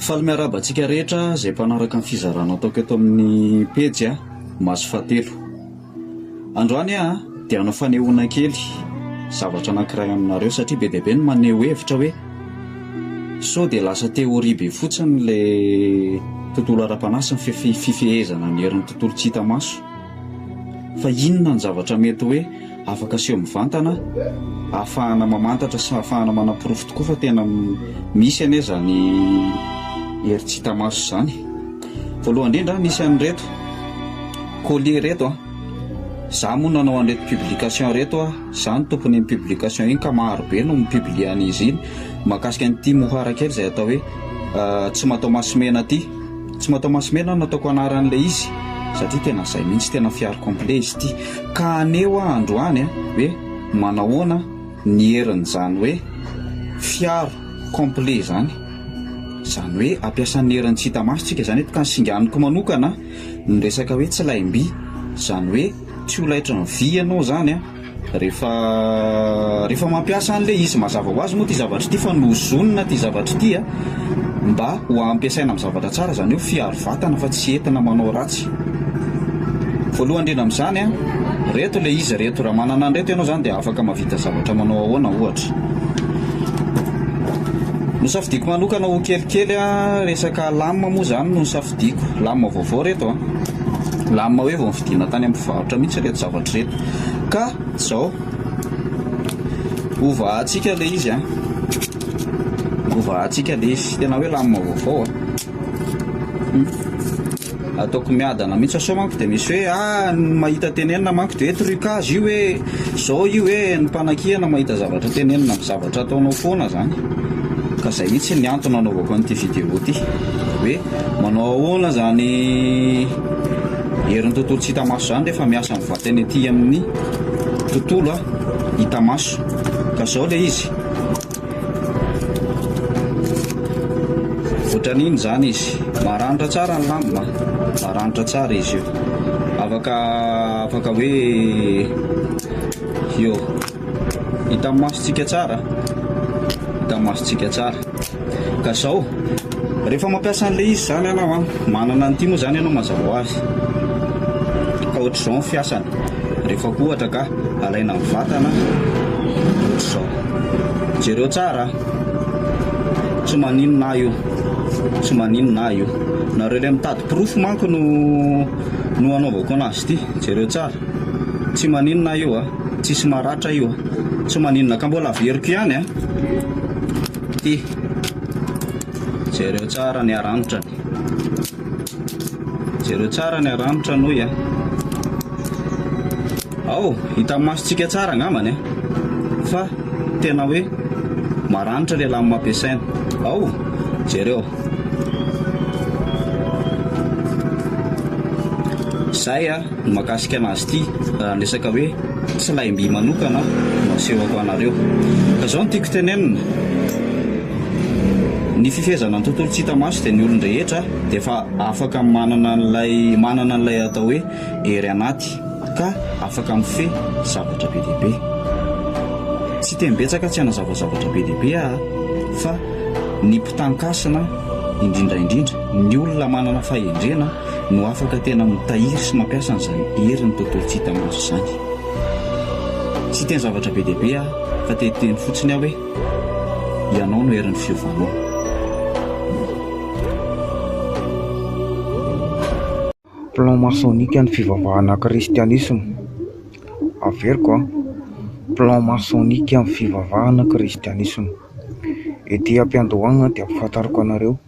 Faly miarahaba antsika rehetra izay mpanaraka ny fizarana ataoko eto amin'ny pejy a, maso fahatelo. Androany aho dia hanao fanehoana kely zavatra anankiray aminareo satria be dia be ny maneho hevitra hoe sao dia lasa théorie be fotsiny ilay tontolo ara-panahy sy ny fifehezana ny herin'ny tontolo tsy hita maso. Fa inona ny zavatra mety hoe Afaka aseho mivantana ahafahana mamantatra sy ahafahana manaporofo tokoa fa tena misy anie izany hery tsy hita maso izany. Voalohany indrindra, nisy an'ireto colis ireto an, izaho moa nanao an'ireto publication ireto an, izaho no tompon'iny publication iny ka maro be no mi-publier an'izy iny mahakasika an'ity mohara kely izay atao hoe tsy mataho-maso mena ity. Tsy mataho masomena no nataoko anarany ilay izy satria tena izay mihitsy tena fiaro complet izy ity ka aneo aho androany hoe manahoana ny herin'izany hoe fiaro complet izany izany hoe ampiasan'ny herin'ny tsy hita maso tsika izany eto ka ny singaniko manokana ny resaka hoe tsy laim-by izany hoe tsy ho laitry ny vy ianao izany a Rehefa rehefa mampiasa an'ilay izy mazava ho azy moa ity zavatra ity fa nozonina ity zavatra ity a mba ho ampiasaina amin'ny zavatra tsara izany hoe fiharo vatana fa tsy entina manao ratsy. Voalohany indrindra amin'izany a, reto ilay izy reto, raha manana an'ireto ianao izany dia afaka mahavita zavatra manao ahoana ohatra. Nosafidiako manokana ho kelikely a, resaka lame moa izany no nosafidiako, lame vaovao reto a, lame hoe vao novidiana tany amin'ny mpivarotra mihitsy ireto zavatra ireto. Ka izao, hovahantsika ilay izy an! Hovahantsika ilay izy, tena hoe lamina vaovao an! Ataoko miadana mihitsy sao manko dia misy hoe ah ny mahita tenenina manko dia hoe trucage io hoe izao io hoe ny mpanakiana mahita zavatra tenenina amin'ny zavatra ataonao foana izany. Ka izay mihitsy ny antony nanaovako an'ity vidéo ity hoe manao ahoana izany Herin'ny tontolo tsy hita maso izany rehefa miasa ny vatany ety amin'ny tontolo hita maso. Ka izao ilay izy. Ohatran'iny izany izy. Maranitra tsara ny lamba, maranitra tsara izy io. Afaka afaka hoe io. Hitan'ny masontsika tsara, hitan'ny masontsika tsara. Ka zao, rehefa mampiasa an'le izy zany anao an, manana an'ity moa zany ianao mazava ho azy. Ka ohatr'izao ny fiasany, rehefa koa ohatra ka alaina ny vatana ohatr'izao. Jereo tsara, tsy maninona ahy io, tsy maninona ahy io. Nareo le mitady porofo manko no no anaovako anazy ity, jereo tsara. Tsy maninona aho io a! Tsisy maratra io a! Tsy maninona ka mbola averiko ihany a! Ty! Jereo tsara ny arandrany. Jereo tsara ny aranitra noy a! Ao! Hita amin'ny masontsika tsara angambany a! Fa tena hoe maranitra ilay lamina ampiasaina. Ao! Jereo! Zay a, ny mahakasika anazy ity, raha ny resaka hoe tsy lahim-by manokana no asehoko anareo. Ka zao no tiako tenenina, ny fifehezana ny tontolo tsy hita maso dia ny olon-drehetra dia efa afaka manana an'ilay manana an'ilay atao hoe hery anaty ka afaka mifehy zavatra be dia be. Tsy teny betsaka tsy hanazava zavatra be dia be aho fa ny Mpitankasina, indrindra indrindra ny olona manana fahendrena no afaka tena mitahiry sy mampiasa an'izany herin'ny tontolo tsy hita maso izany. Tsy hiteny zavatra be dia be aho fa te hiteny fotsiny aho hoe, Ianao no herin'ny fiovanao. Plan masonika ny fivavahana kristianisma. Averiko an, plan masonika ny fivavahana kristianisma. Ety am-piandohana dia ampahafantariko anareo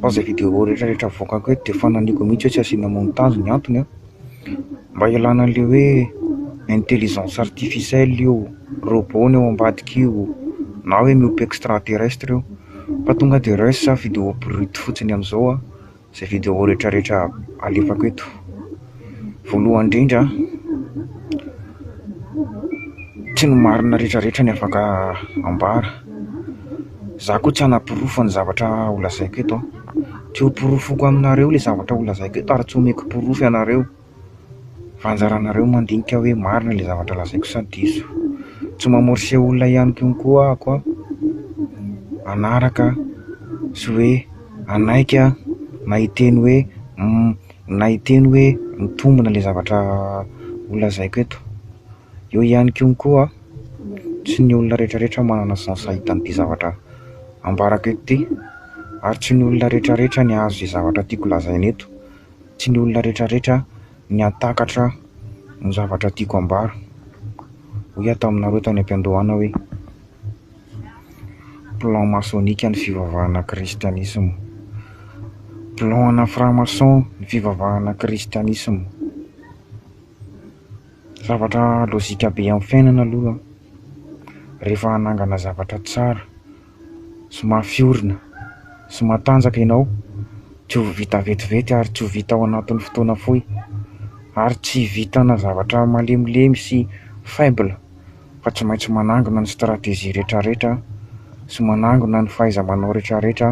fa izay video rehetra rehetra avoakako eto dia fanahiniako mihitsy hoe tsy asiana montage ny antony an, mba hialana an'ilay hoe intelligence artificielle io, robot ny ao ambadika io na hoe miompy extra terrestre io fa tonga dia resy za video brut fotsiny amin'izao an. izay vidéo retraretra alefako eto voalohany indrindra tsy ny marina retraretra ny afaka ambara za koa tsy anaporofo ny zavatra ho lazaiko eto tsy ho porofoko aminareo le zavatra ho lazaiko eto ary tsy omeko porofo ianareo Raha anjaranareo mandinika hoe marina ilay zavatra lazaiko sa diso. Tsy mamorse olona ihany koa koa ako an, hanaraka sy hoe hanaiky an, na hiteny hoe humm, na hiteny hoe mitombina ilay zavatra ho lazaiko eto. Eo ihany koa koa an, tsy ny olona retraretra manana sens hahita an'ity zavatra ambarako eto ity, ary tsy ny olona retraretra ny hahazo izay zavatra tiako lazaina eto. Tsy ny olona rehetrarehetra ny hahatakatra ny zavatra tiako ambara. Hoy aho taminareo tany am-piandohana hoe, plan masonika ny fivavahana kristianisma. Plan ana franc-maçon ny fivavahana kristianisma. Zavatra lojika be amin'ny fiainana aloha rehefa hanangana zavatra tsara. sy mafy orina sy matanjaka ianao, tsy ho vita vetivety ary tsy ho vita ao anatin'ny fotoana fohy, ary tsy hivitanà zavatra malemilemy sy faible fa tsy maintsy manangona ny stratégie rehetrarehetra sy manangona ny fahaiza-manao rehetrarehetra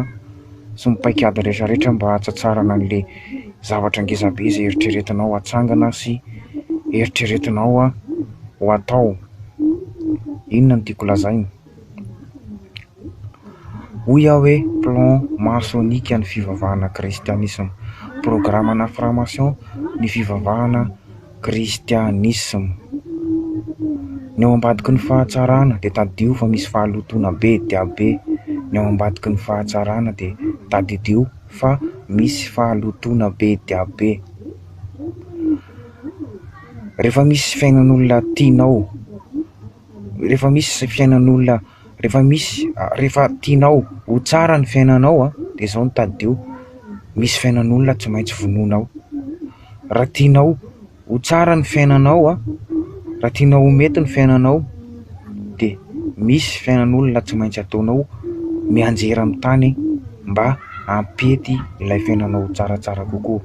sy ny paikady rehetrarehetra mba hahatsatsaharana an'ilay zavatra ngezabe izay eritreretinao ho atsangana sy eritreretinao ho atao. Inona no tiako lazaina? Hoy aho hoe plan masonika ny fivavahana kristianisma. Programana franc-maçon ny fivavahana kristianisma. Ny ao ambadiky ny fahatsarana dia tadidio fa misy fahalotoana be dia be. Ny ao ambadiky ny fahatsarana dia tadidio fa misy fahalotoana be dia be. Rehefa misy fiainan'olona tianao. rehefa misy fiainan'olona rehefa misy rehefa tianao ho tsara ny fiainanao a dia izao no tadidio, misy fiainan'olona tsy maintsy vonoinao, raha tianao ho tsara ny fiainanao a, raha tianao ho mety ny fiainanao dia misy fiainan'olona tsy maintsy ataonao mianjera amin'ny tany mba hampety ilay fiainanao ho tsaratsara kokoa.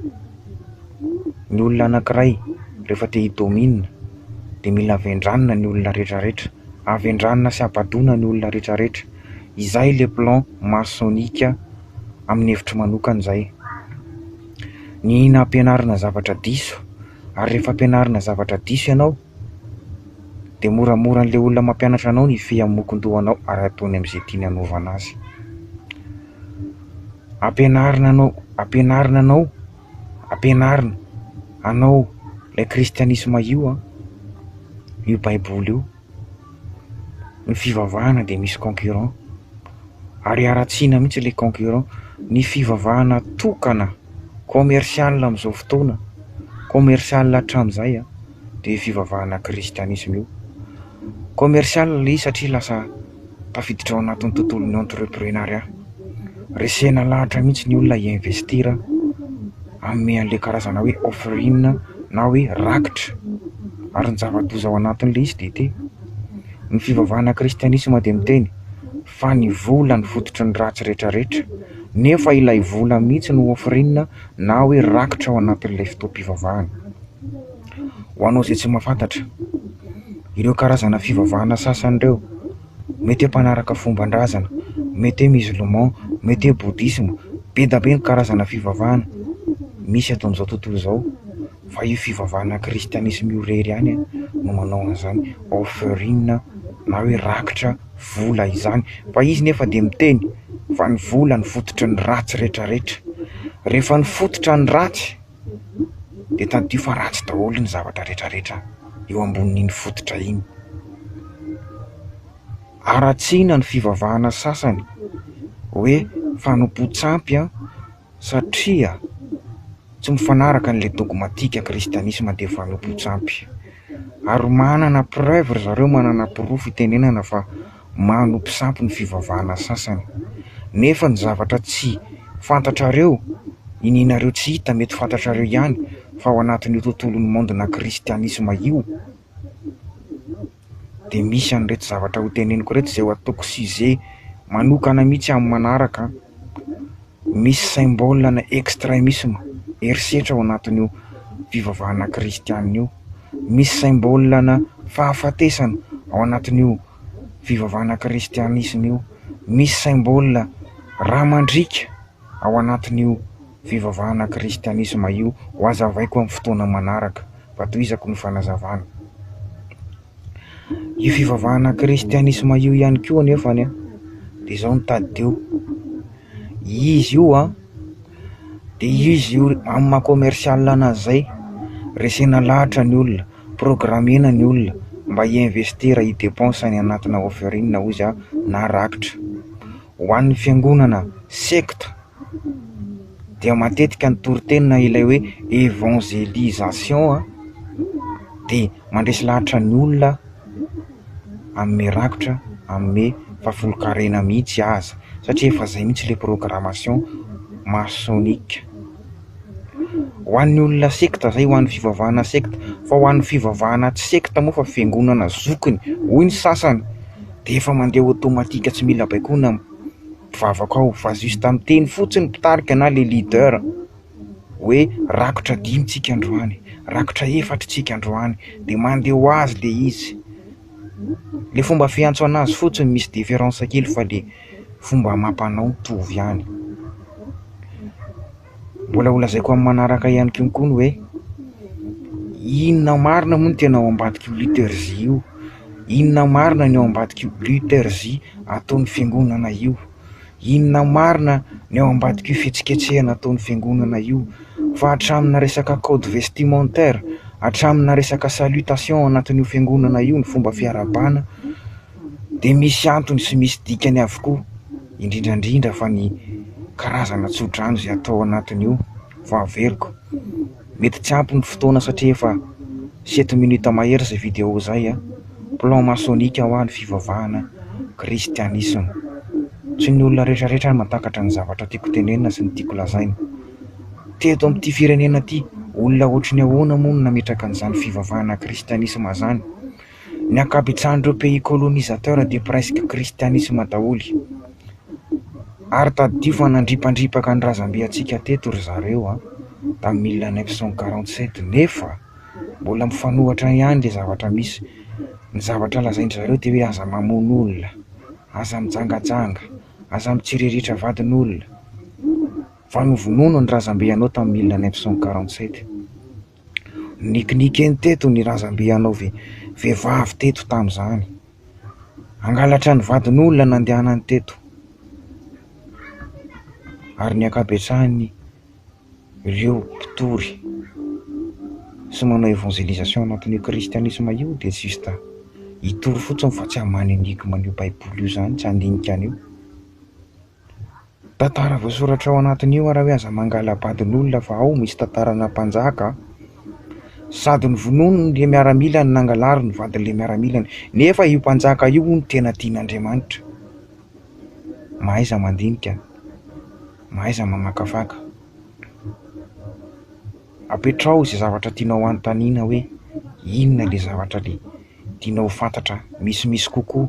ny olona anankiray rehefa te hi-domine dia mila avendranina ny olona rehetrarehetra, avendranina sy abadoana ny olona rehetrarehetra, izay ilay plan masonika amin'ny hevitro manokana izay. Ny nampianarina zavatra diso, ary rehefa ampianarina zavatra diso ianao dia moramora an'ilay olona mampianatra anao ny hifehy amin'ny mokon-dohanao ary ataony amin'izay tiany hanaovana azy. Ampianarina anao, ampianarina anao, ampianarina anao ilay kristianisma io an, io baiboly io, ny fivavahana dia misy concurrent, ary haratsiana mihintsy ilay concurrent, ny fivavahana tokana commercial amin'izao fotoana, commercial hatramin'izay an, dia io fivavahana kristianisma io, commercial izy satria lasa. tafiditra ao anatin'ny tontolon'ny entreprenariat. Resena lahatra mihitsy ny olona hi-investir hanome an'ilay karazana hoe offering na hoe rakitra. Ary ny zava-doza ao anatin'ilay izy dia ity, ny fivavahana kristianisma dia miteny fa ny vola no fototry ny ratsy rehetrarehetra, nefa ilay vola mihitsy no offering na hoe rakitra ao anatin'ilay fotoam-pivavahana. Ho anao izay tsy mahafantatra. ireo karazana fivavahana sasany ireo, mety hoe mpanaraka fomban-drazana, mety hoe musulman, mety hoe bouddhisme, be dia be ny karazana fivavahana misy eto amin'izao tontolo izao fa io fivavahana kristianisma io irery ihany no manao an'izany offering na hoe rakitra vola izany, fa izy nefa dia miteny fa ny vola no fototry ny ratsy rehetra rehetra, rehefa ny fototra ny ratsy. dia tadidio fa ratsy daholo ny zavatra rehetrarehetra eo ambonin'iny fototra iny. Haratsiana ny fivavahana sasany hoe fanompoan-tsampy satria tsy mifanaraka an'ilay dogmatika kristianisma dia fanompoan-tsampy. Ary manana preuve ry zareo, manana porofo itenenana fa. manompo sampy ny fivavahana sasany. Nefa ny zavatra tsy fantatrareo, inianareo tsy hita, mety fantatrareo ihany fa ao anatin'io tontolon'ny mondona kristianisma io dia misy an'ireto zavatra hoteneniko ireto izay ho ataoko sujet manokana mihitsy amin'ny manaraka an! Misy symbole ana extremisme, herisetra ao anatin'io fivavahana kristiana io. Misy symbole ana fahafatesana ao anatin'io fivavahana kristianisme io. Misy symbole ra mandriaka ao anatin'io fivavahana kristianisme io. Ho azavaiko amin'ny fotoana manaraka. Fa tohizako ny fanazavana. Io fivavahana kristianisma io ihany koa anefa dia izao no tadidio, izy io an, dia izy io amin'ny maha commercial anazy izay, resena lahatra ny olona, programena ny olona mba hi-investir, hi-depense any anatina offering hoy izy na rakitra. Ho an'ny fiangonana, secte. dia matetika ny toriteny na ilay hoe évangélisation dia mandresy lahatra ny olona hanome rakitra, hanome fahafolonkarena mihitsy aza satria efa izay mihitsy ilay programmation maçonnique. Ho an'ny olona sekta izay, ho an'ny fivavahana sekta fa ho an'ny fivavahana tsy sekta moa fa fiangonana zokiny hoy ny sasany dia efa mandeha automatique tsy mila baikoina. Mpivavaka ao fa juste miteny fotsiny mpitarika na le leader hoe rakotra dimy tsika androany, rakotra efatra tsika androany de mande ho azy le izy, le fomba fiantso anazy fotsiny misy difference kely fa le fomba amam-panao mitovy ihany. Mbola ho lazaiko amin'ny manaraka ihany koa koa ny hoe inona marina moa ny tena ao ambadik'io leadergie io, inona marina ny ao ambadik'io leadergie ataon'ny fiangonana io, inona marina ny ao ambadik'io fihetsiketsehana ataon'ny fiangonana io, fa hatraminà resaka code vestimentaire, hatraminà resaka salutation ao anatin'io fiangonana io, ny fomba fiarahabana dia misy antony sy misy dikany avokoa. indrindra indrindra fa ny karazana tsodrano izay atao ao anatin'io vao averiko, mety tsy ampy ny fotoana satria efa sept minutes mahery izay vidéo izay a, plan maçonnique hoa ny fivavahana kristianisma, tsy ny olona rehetra rehetra ary mahatakatra ny zavatra tiako tenenina sy ny tiako lazaina, teto amin'ity firenena ity olona ohatry ny ahoana moa no nametraka an'izany fivavahana kristianisma izany? Ny ankabetsahan'ireo pays colonisateurs dia presque christianisme daholo. Ary tadidio fa nandripandripaka ny razambe antsika teto ry zareo an, tamin'ny mille neuf cent quarante sept nefa mbola mifanohatra ihany ilay zavatra misy. Ny zavatra lazain-dry zareo dia hoe aza mamono olona, aza mijangajanga, aza mitsiriritra vadin'olona, fa novonono ny razambe anao tamin'ny mille neuf cent quarante sept. Ninikinika eny teto ny razambe hanao vehivavy teto tamin'izany. Hangalatra ny vadin'olona nandehanany teto. Ary ny ankabetsahany ireo mpitory sy manao évangélisation anatin'io kristianisma io dia juste hitory fotsiny fa tsy haman enigma an'io baiboly io izany, tsy handinika an'io. Tantara voasoratra ao anatin'io ary hoe aza mangala-badin'olona fa ao misy tantaranà mpanjaka a! Sady novonoin'ilay miaramila no nangalary ny vadin'ilay miaramila, nefa io mpanjaka io hono tena tian'Andriamanitra. Mahaiza mandinika, mahaiza mamakafaka. Apetraho izay zavatra tianao hanontaniana hoe inona ilay zavatra le tianao ho fantatra misimisy kokoa.